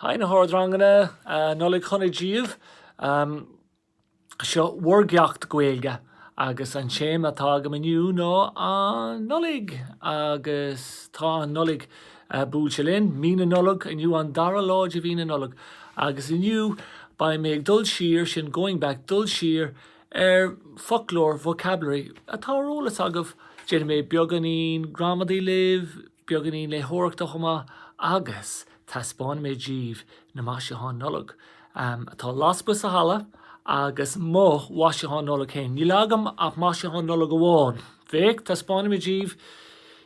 Hi na hardranganna, Nollaig Shona díobh. Seo bhur gceacht Gaeilge agus an téama atá agam inniu ná An Nollaig agus tá an Nollaig buailte linn, Mí na Nollag, inniu an dara lá de mhí na Nollag agus inniu beidh mé ag dul siar, sin going back, dul siar ar foclóir, vocabulary, atá ar eolas agaibh, déanfaidh mé beagáinín gramadaí libh, beagáinín léitheoireachta chomh maith agus taispeánfaidh mé díbh na maisiúcháin Nollag atá lasmuigh sa halla agus mo mhaisiúchán Nollag féin. Níl agam ach maisiúchán Nollag amháin. Féach, taispeánfaidh mé díbh,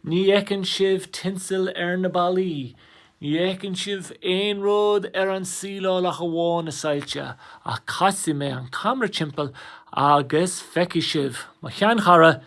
ní fheiceann sibh tinsil ar na ballaí, ní fheiceann sibh aon rud ar an tsíleáil ach amháin na soilse, ach casfaidh mé an camera timpeall agus feicfidh sibh mo sheanchara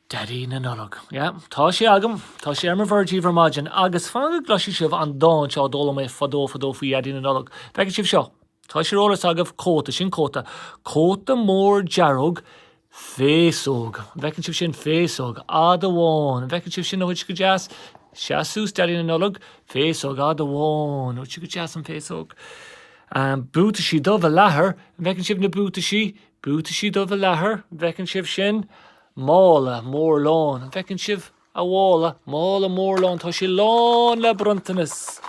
Daidí na Nollag. Yeah, tá sé agam. Tá sé ar mo bhord díbh ar maidin. Agus fan go gcloisfidh sibh an dán seo a d'fhoghlaim mé fadó fadó faoi Dhaidí na Nollag. Feicfidh sibh seo. Tá sé ar eolas agaibh, cóta, sin cóta. Cóta mór dearg, féasóg. An bhfeiceann sibh sin? Féasóg fhada bhán. An bhfeiceann sibh sin, ó, go deas? Seas suas Daidí na Nollag, féasóg fhada bhán. Dúirt sí go deas an féasóg. Um, buataisí dubha leathair. An bhfeiceann sibh na buataisí? Buataisí dubha leathair. An bhfeiceann sibh sin? Mála mór lán, an bhfeiceann sibh a mhála? Mála mór lán, tá sé lán le bronntanas.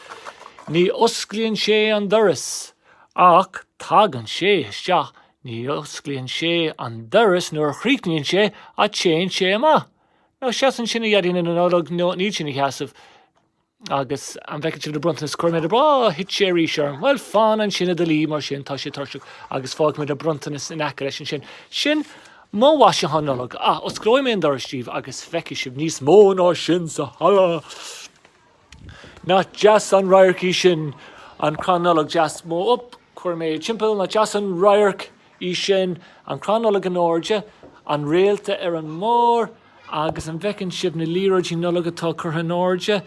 Ní osclaíonn sé an doras ach tagann sé isteach, ní osclaíonn sé an doras nuair a chríochnaíonn sé ach téann sé amach. Ná seas ansin, a Dhaidí na Nollag, níl sé ina sheasamh. Agus an bhfeiceann sibh na bronntanais? Chuir mé de, á, thit sé arís orm. Bhuel, fan ansin i do luí mar sin, tá sé tuirseach, agus fágfaidh mé do bhronntanas in aice leis ansin. Sin mo mhaisiúchán Nollag. Á, osclóidh mé an doras díbh agus feicfidh sibh níos mó ná sin sa halla! Nach deas an radharc í sin? An crann Nollag deas mór? Op, chuir mé timpeall, nach deas an radharc? í sin, an crann Nollag in airde, an réalta ar an mbarr, agus an bhfeiceann sibh na liathróidí Nollag atá curtha in airde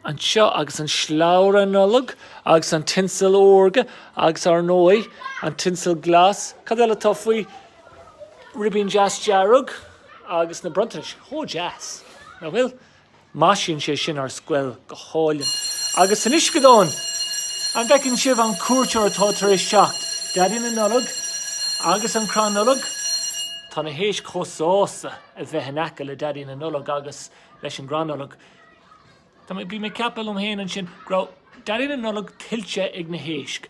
anseo, agus an slabhra Nollag, agus an tinsel órga, agus, ar ndóigh, an tinsel glas. Cad eile atá faoi? Ribín deas dearg, agus na bronntanais chomh deas, nach bhfuil? Maisíonn sé sin ár scoil go hálainn. Agus san uisceadán! An bhfeiceann sibh an cuairteoir atá tar éis teacht, Daidí na Nollag agus an crann Nollag? Tá na héisc chomh sásta a bheith in aice le Daidí na Nollag agus leis an gcrann Nollag. Tá mé, bím ag ceapadh liom féin ansin, go raibh Daidí na Nollag tuillte ag na héisc.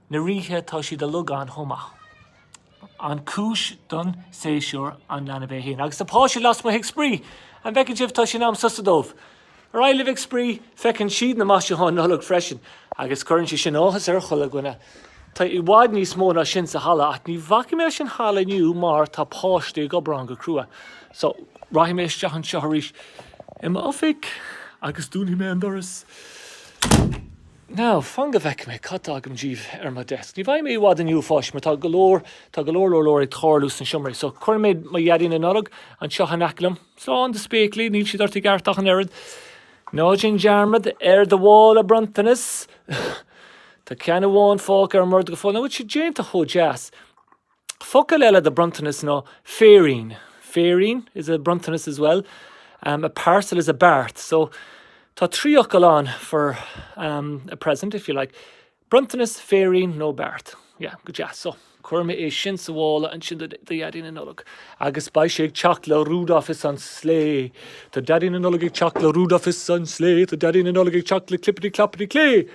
na ríthe tá siad uilig ann chomh maith. An cúis don séasúr an leanbh é fhéin agus na páistí lasmuigh ag spraoi. An bhfeiceann sibh, tá sé in am sosa dóibh. Ar aghaidh libh ag spraoi, feiceann siad na maisiúcháin Nollag freisin agus cuireann sé sin áthas ar chuile dhuine. Tá i bhfad níos mó ná sin sa halla ach ní bhacfaidh mé leis an halla inniu mar tá páistí ag obair ann go crua so rachaidh mé isteach anseo arís i m'oifig agus dúnfaidh mé an doras. Now, fan go bhfeicfidh mé cad tá agam díbh ar mo desk. Ní bheidh mé i bhfad inniu, a pháistí, mar tá go leor, tá go leor leor leor ag tarlú sna seomraí. So, cuirfidh mé mo Dhaidí na Nollag anseo in aice liom. Slán do spéaclaí, níl siad ort i gceart ach an oiread. Ná déan dearmad ar do mhála bronntanas. Tá ceann amháin fágtha ar an mbord go fóill. An bhfuil sé déanta chomh deas? Focail eile do bronntanas nó féirín, féirín is a bronntanas as well, um, a parcel is a beart, so tá trí fhocal ann for um, a present if you like. Bronntanas, féirín nó beart. Yeah, go deas. So, cuirfidh mé é sin sa mhála ansin do Dhaidí na Nollag. Agus beidh sé ag teacht le Rudolph is an slé. Tá Daidí na Nollag ag teacht le Rudolph is an slé. Tá Daidí na Nollag ag teacht le clippity clappity clé.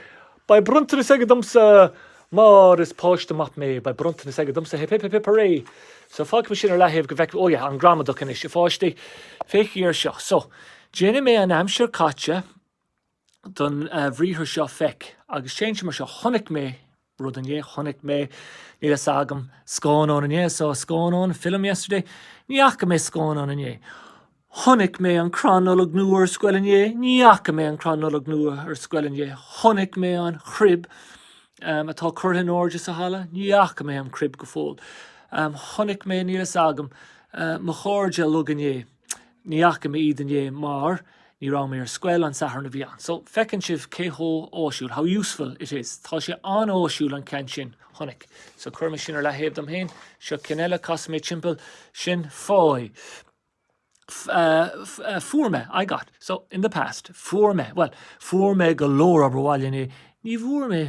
Beidh bronntanas aige domsa mar is páiste maith mé, beidh bronntanas aige domsa, hip hip hip hip hurray! So fágfaidh mé sin ar leathaobh go bhfeicfidh, oh yeah, an gramadach anois, a pháistí, féachaigí air seo. So, déanfaidh mé an aimsir chaite don bhriathar seo feic agus téann sé mar seo, chonaic mé rud inné, chonaic mé, níl a fhios agam, scannán inné, I saw a scannán, a film, yesterday, ní fhaca mé scannán inné. Chonaic mé an crann Nollag nua ar scoil inné. Ní fhaca mé an crann Nollag nua ar scoil inné. Chonaic mé an chrib atá curtha in airde sa halla. Ní fhaca mé an chrib go fóill. Chonaic mé, níl fhios agam, mo chairde uilig inné. Ní fhaca mé iad inné mar ní raibh mé ar scoil an Satharn a bhí ann. So, feiceann sibh cé chomh áisiúil, how useful it is. Tá sé an-áisiúil an ceann sin. Chonaic. So, cuirfidh mé sin ar leathaobh dom féin. Seo ceann eile, casfaidh mé timpeall. Sin faigh. fuair mé, I got. So, in the past, fuair mé, bhuel, fuair mé go leor obair bhaile inné, ní bhfuair mé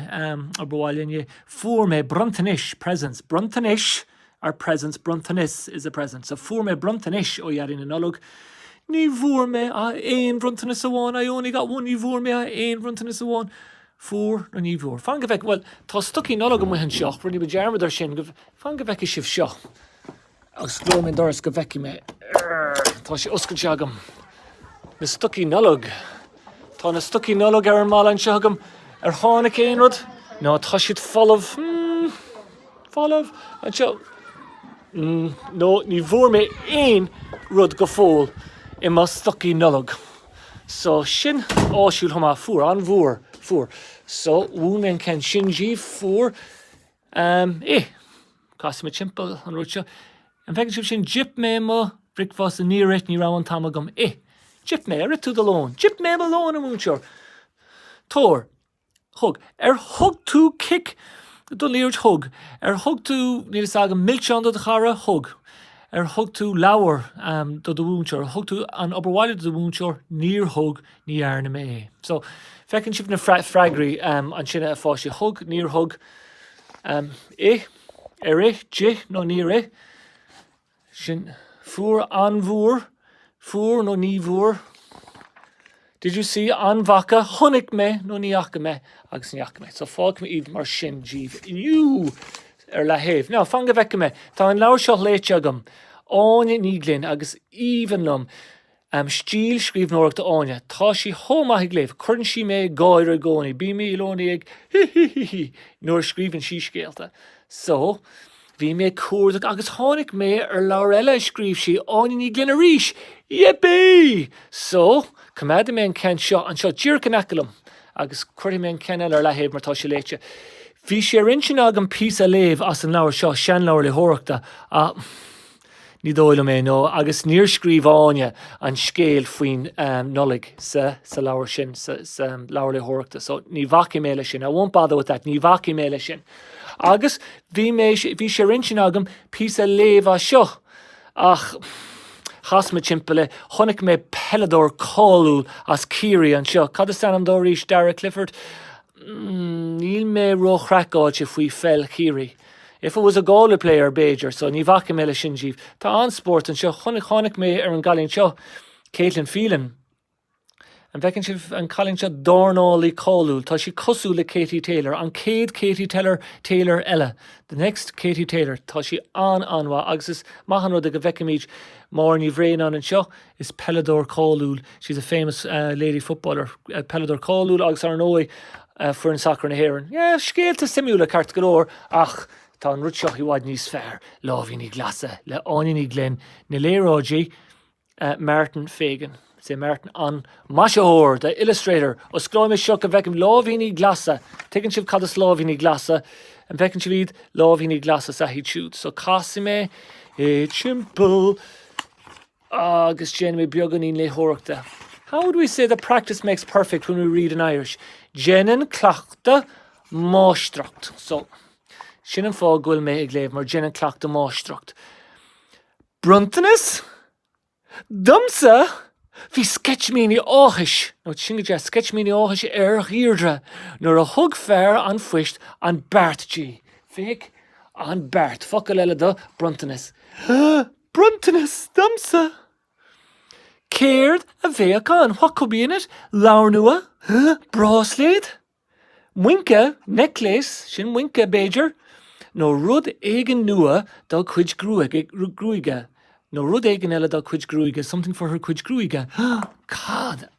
obair bhaile inné, fuair mé bronntanais, presents, bronntanais are presents, bronntanas is a present, so fuair mé bronntanais ó Dhaidí na Nollag, ní bhfuair mé ach aon bhronntanas amháin, I only got one, ní bhfuair mé ach aon bhronntanas amháin, fuair nó ní bhfuair. Fan go bhfeicfidh, bhuel, tá stocaí Nollag amuigh anseo, rinne muid dearmad air sin, fan go bhfeicfidh sibh seo. Agus osclóidh mé an doras go bhfeicfidh mé. Arr! Tá sé oscailte agam. Na stocaí Nollag. Tá na stocaí Nollag ar an mballa anseo agam. Ar tháinig aon rud? Nó, tá siad folamh. Hmm. Folamh. Anseo. Mm. Nó ní bhfuair mé aon rud go fóill i mo stocaí Nollag. So sin áisiúil chomh maith. Fuair. An bhfuair. Fuair. So mhúin mé an ceann sin daoibh. Fuair. Am, ih! Casfaidh mé timpeall an rud seo. An bhfeiceann sibh sin? D'ith mé mo bhricfeasta, níor ith, ní raibh an t-am agam, ih! D'ith mé, ar ith tú do lón? D'ith mé mo lón, a mhúinteoir. Tabhair, thug, ar thug tú cic don liathróid? Thug, ar thug tú, níl fhios agam, milseán do do chara? Thug, ar thug tú, leabhar, am, do do mhúinteoir? Thug tú an obair bhaile do do mhúinteoir? Níor thug. Ní dhearna mé é. So, feiceann sibh na freagraí ansin a pháistí, thug, níor thug, ith, ar ith, d'ith nó níor ith, sin, fuair, an bhfuair, fuair nó ní bhfuair, did you see, an bhfaca, chonaic mé nó ní fhaca mé, agus ní fhaca mé. So, fágfaidh mé iad mar sin daoibh inniu ar leathaobh. Now fan go bhfeice mé, tá an leabhar seo léite agam, Áine Ní Ghlinn agus is aoibhinn liom Um stíl scríbhneoireachta Áine, tá sí chomh maith a léamh, cuireann sí mé ag gáire i gcónaí, bím i gcónaí ag hí hí hí hí nuair a scríobhann sí scéalta. So, bhí mé ag cuardach agus tháinig mé ar leabhar eile a scríobh sí, Áine Ní Ghlinn arís! Yippee! So, coimeádfaidh mé an ceann seo anseo díreach in aice liom agus cuirfidh mé an ceann eile ar leathaobh mar tá sé léite. Bhí sé ar intinn agam píosa a léamh as an leabhar seo, seanleabhar léitheoireachta, ach. Ní dóigh liom é, nó agus níor scríobh Áine an scéal faoin Nollaig sa sa leabhar sin, sa leabhar léitheoireachta, so ní bhacfaidh mé leis sin, I won't bother with that, ní bhacfaidh mé leis sin. Agus bhí mé, bhí sé ar intinn agam píosa a léamh as seo, ach chas mé timpeall é, chonaic mé peileadóir cáiliúil as Ciarraí anseo, cad is ainm dó arís, Darragh Clifford? Níl mé róchraiceáilte faoi pheil Chiarraí. If it was a Galway player, b'fhéidir, so ní bhacfaidh mé leis sin daoibh. Tá an-spórt anseo. Chonaic, tháinig mé ar an gcailín seo, Caitlin Phelan. An bhfeiceann sibh an cailín seo? Dornálaí cáiliúil. Tá sí cosúil le Katie Taylor. An chéad Katie Teller, Taylor eile. The next Katie Taylor. Tá sí an-an-mhaith agus is maith an rud é go bhfeicfimid Máire Ní Bhraonáin anseo Is peileadóir cáiliúil She's a famous lady footballer peileadóir cáiliúil agus, ar ndóigh, foireann sacair na hÉireann. Yeah, scéalta suimiúla, ceart go leor, ach tá an rud seo i bhfad níos fearr, Láimhíní Glasa le Áine Ní Ghlinn, na léaráidí Martin Fagan. Is é Martin an maisitheoir, the illustrator. Osclóidh mé seo go bhfeicim láimhíní glasa. Tuigeann sibh cad is láimhíní glasa? An bhfeiceann sibh iad? Láimhíní glasa is ea iad siúd. So casfaidh mé timpeall. agus déanfaidh mé beagáinín léitheoireachta How would we say that practice makes perfect when we read in Irish? Déanann cleachtadh máistreacht. So, sin an fáth go bhfuil mé ag léamh, mar déanann cleachtadh máistreacht. Bronntanas? Domsa? Bhí sceitimíní áthais, nach bhfuil sin go deas, sceitimíní áthais ar Dheirdre nuair a thug fear an phoist an beart di. Féach, an beart, focal eile do bhronntanas. bronntanas domsa. Céard a bheadh ann? What could be in it? Leabhar nua? Bráisléad? Muince? Necklace? Sin muince, b'fhéidir? Nó rud éigin nua dá cuid gruaige? Nó rud éigin eile dá cuid gruaige? Something for her cuid gruaige? Cad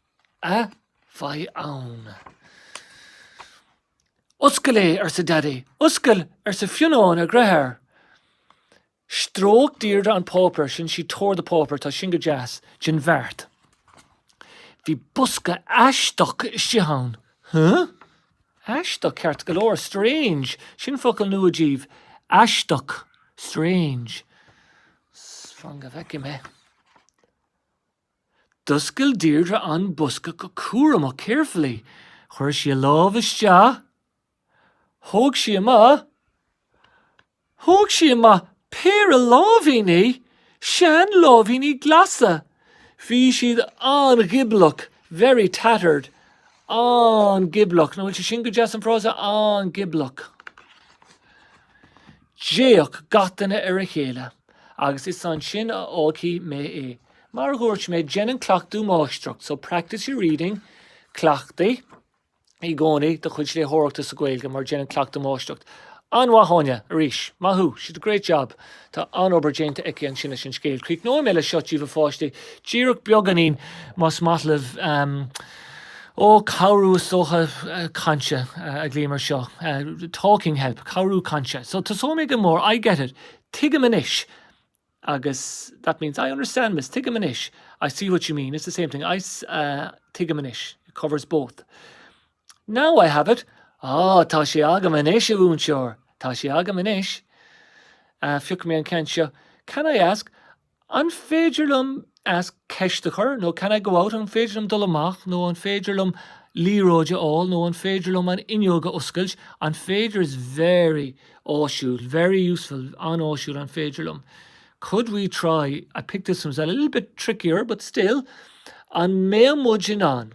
a bheidh ann? Oscail é, arsa Daidí. Oscail, arsa Fionnán, a deartháir. Stróic Deirdre an páipéar sin, she tore the paper, tá sin go deas, den bheart. Bhí bosca aisteach istigh ann. Huh? Aisteach, ceart go leor. Strange, sin focal nua díbh. Aisteach. Strange. Fan go bhfeicfidh mé. D'oscail Deirdre an bosca go cúramach, carefully. Chuir sí a lámh isteach. Thóg sí amach, thóg sí amach péire láimhíní, sean láimhíní glasa, bhí siad an-ghioblach, very tattered, an-ghioblach, nach bhfuil sé sin go deas an frása, an-ghioblach. D'fhéach gach duine ar a chéile. Agus is ansin a fhágfaidh mé é. Mar a dhúirt mé, déanann cleachtadh máistreacht, so practice your reading, cleachtaigh, i gcónaí do chuid léitheoireachta sa Ghaeilge mar déanann cleachtadh máistreacht. An-mhaith, Áine, arís. Maith thú. She did a great job. Tá an-obair déanta aici ansin leis an scéal. Críochnóidh mé le seo díbh, a pháistí, díreach beagáinín, más maith leat. Um, ó, cabhrú, is dócha, uh, cainte uh, a ghlaoim ar seo. Uh, talking help, cabhrú cainte. So, tosóidh mé go mór. I get it. Tuigim anois. agus that means I understand miss, tuigim anois I see what you mean, it's the same thing I uh, tuigim anois, it covers both. Now I have it, ah, tá sé agam anois, a mhúinteoir, tá sé agam anois. Uh, Phioc mé an ceann seo. Can I ask, an féidir liom ask, ceist a chur, nó can I go out? an féidir liom dul amach, nó an féidir liom liathróid a fháil, nó an féidir liom an fhuinneog a oscailt? An féidir is very áisiúil, very useful an-áisiúil an féidir liom. Could we try, I picked this one as well, a little bit trickier but still, an mbeadh muid in ann?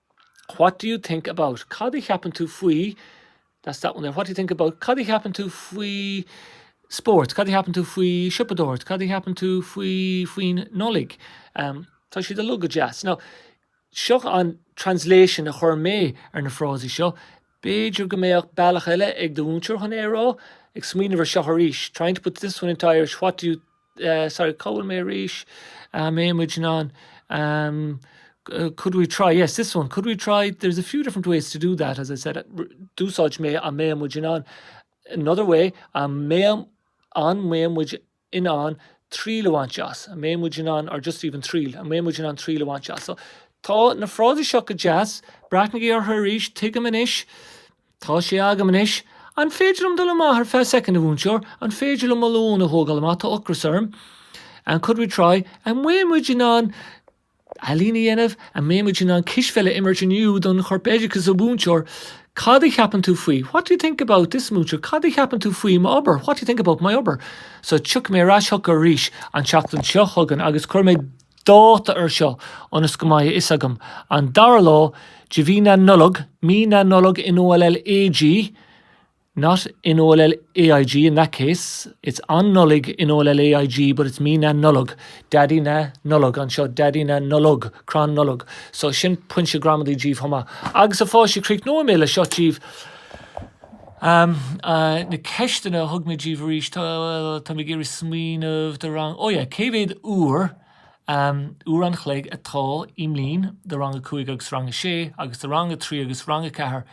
What do you think about Cad a cheapann tú faoi That's that one there. What do you think about Cad a cheapann tú faoi spórt? Cad a cheapann tú faoi siopadóireacht? Cad a cheapann tú faoi faoin Nollaig? Um, tá siad uilig go deas. Now, seo an translation a chur mé ar na frásaí seo. B'fhéidir go mbeadh bealach eile ag do mhúinteoir chun é a rá, ag smaoineamh ar seo arís. Trying to put this one into Irish, what do you sorry, cá bhfuil mé arís? um, an mbeadh muid in ann um, could we try, yes, this one, could we try, there's a few different ways to do that, as I said, d'úsáid mé an mbeadh muid in ann, another way, an mbeadh an mbeadh muid in ann triail a bhaint as, an mbeadh muid in ann, or just even triail, an mbeadh muid in ann triail a bhaint as. So, tá na frásaí seo go deas, breathnaigí orthu arís, tuigim anois, Tá sé agam anois. An féidir liom dul amach ar feadh soicind, a mhúinteoir? An féidir liom mo lón a thógáil amach? Tá ocras orm. An, could we try? An mbeadh muid in ann ealaín a dhéanamh? An mbeadh muid in ann cispheil a imirt inniu don Chorpoideachas, a mhúinteoir? Cad a cheapann tú faoi? What do you think about this, a mhúinteoir? Cad a cheapann tú faoi m'obair? What do you think about my obair? So, tiocfaidh mé ar ais chucu arís an tseachtain seo chugainn agus cuirfidh mé dáta air seo, ionas go mbeidh a fhios agam, an dara lá de mhí na Nollag, Mí na Nollag N O L L A G not N O L L A I G in that case it's An Nollaig N O L L A I G but it's Mí na Nollag Daidí na Nollag anseo Daidí na Nollag Crann Nollag so sin pointe gramadaí daoibh chomh maith. Agus a pháistí, críochnóidh mé le seo daoibh. Na ceisteanna a thug mé daoibh arís, táim ag iarraidh smaoineamh, do rang, ó yeah, cé mhéad uair, uair an chloig atá i mbliain do rang a cúig agus rang a sé agus do rang a trí agus rang a ceathair?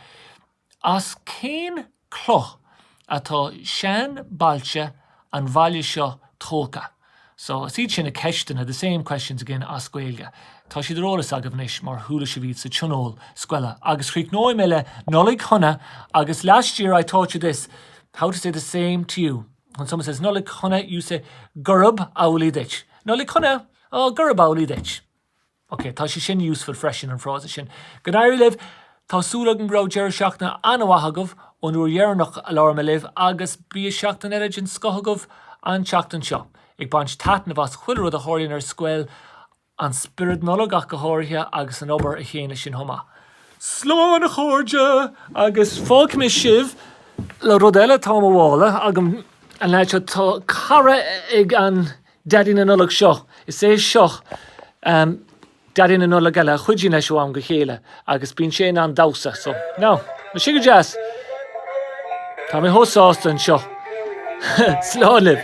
As cén cloch atá seanbhailte an bhaile seo tógtha? So, is iad sin na ceisteanna, the same questions again, as Gaeilge. Tá siad ar eolas agaibh anois mar chuala sibh iad sa tionól scoile. Agus críochnóidh mé le Nollaig Shona agus Last year I taught you this, how to say the same to you. When someone says Nollaig Shona, you say Gurab amhlaidh duit. Nollaig Shona! Oh, Gurab amhlaidh duit. OK, tá sé sin useful freisin, an frása sin. Go n-éirí libh! Tá súil agam go raibh deireadh seachtaine an-mhaith agaibh ón uair dheireanach a labhair mé libh agus bíodh seachtain eile den scoth agaibh an tseachtain seo, ag baint taitnimh as chuile rud a tharlaíonn ar scoil, an spiorad Nollag ach go háirithe agus an obair in éineacht leis sin chomh maith. Slán a chairde agus fágfaidh mé sibh le rud eile atá i mo mhála agam an leaid seo, tá cara ag an. Deaidí na Nollag seo, is é seo Deaidí na Nollag eile a chuidíonn leis ó am go chéile agus bíonn sé in ann damhsa. So, now, na siga deas! Tá mé chomh sásta anseo! Slán libh!